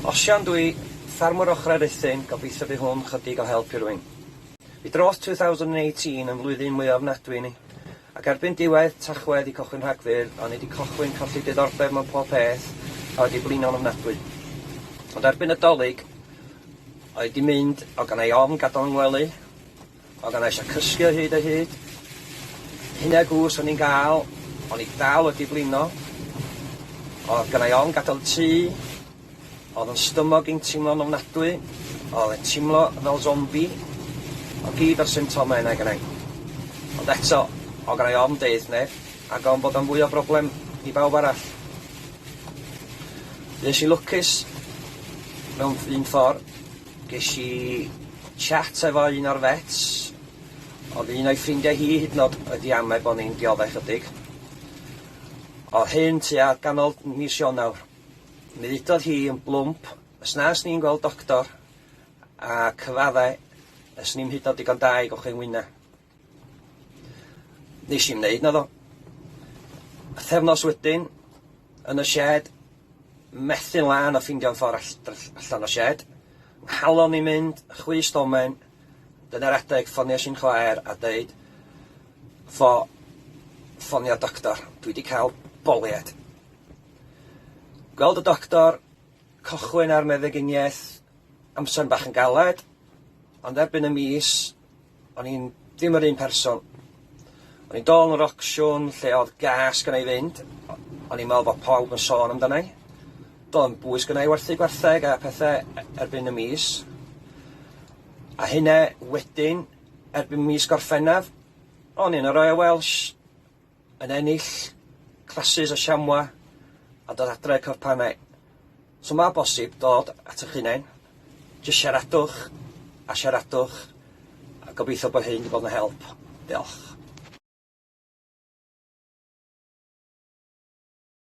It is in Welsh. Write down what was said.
Osian dwi, ffarmwr ochrau Ruthun, gobeithio by hwn chydig o help i rwyn. By dros 2018 yn flwyddyn mwy ofnadwy i ni, ac erbyn diwedd Tachwedd i cochwyn Rhagfyr o'n i di cochwyn colli diddordeb mewn pob peth a wedi blino'n ofnadwy. Ond erbyn y Dolig oedd di mynd o ganai ofn gadal yng ngwely, Oeddan eisiau cysgu o hyd o hyd. Hynna gwrs o'n i'n gael, o'n i dal wedi blino. Oedd gynnau ofn gadael y tŷ. Oedd yn stymog i'n teimlo'n ofnadwy. Oedd e'n teimlo fel zombi. Oedd gyd o'r symptomau yna gynnau. Ond eto, oedd gynnau ofn deud neb, ac ofn bod o'n fwy o broblem i bawb arall. Fues i lwcus mewn un ffordd. Gesh i chat efo un o'r vets, o'dd un o'i ffrindia hi hyd yn o'd wedi ame' bo' ni'n diodde' chydig. O'dd hyn tua ganol mis Ionawr. Mi ddudodd hi yn blwmp, os na yswn i'n gweld doctor, a cyfadde' yswn i'm hyd yn o'd digon da i gochwyn wyna. Nes i'm neud naddo. Pythefnos wedyn, yn y sied, methu'n lân o ffindio'n ffordd all- dr- allan o sied. Nghalon i'n mynd, chwi stomen, dyna'r adeg ffonies i'n chwaer a deud fo ffonio doctor, dwi wedi cael bolied. Gweld y doctor, cochwyn ar meddyginiaeth, amser bach yn galed, ond erbyn y mis, O'n i'n ddim yr un person. O'n i'n dol yn yr ocsiwn lle oedd gas gynnau i fynd, o'n i'n meddwl bod pawb yn sôn amdanau. Doedd yn bwys gynnau i werthu gwartheg a pethau e- erbyn y mis. A hynna wedyn, erbyn mis Gorffennaf, o'n i'n yr Royal Welsh. yn ennill classes o siamwa a dod adre i'r corff panau. So mae bosib dod at eich hunain, jyst siaradwch a siaradwch a gobeithio bod hyn wedi bod yn help. Diolch.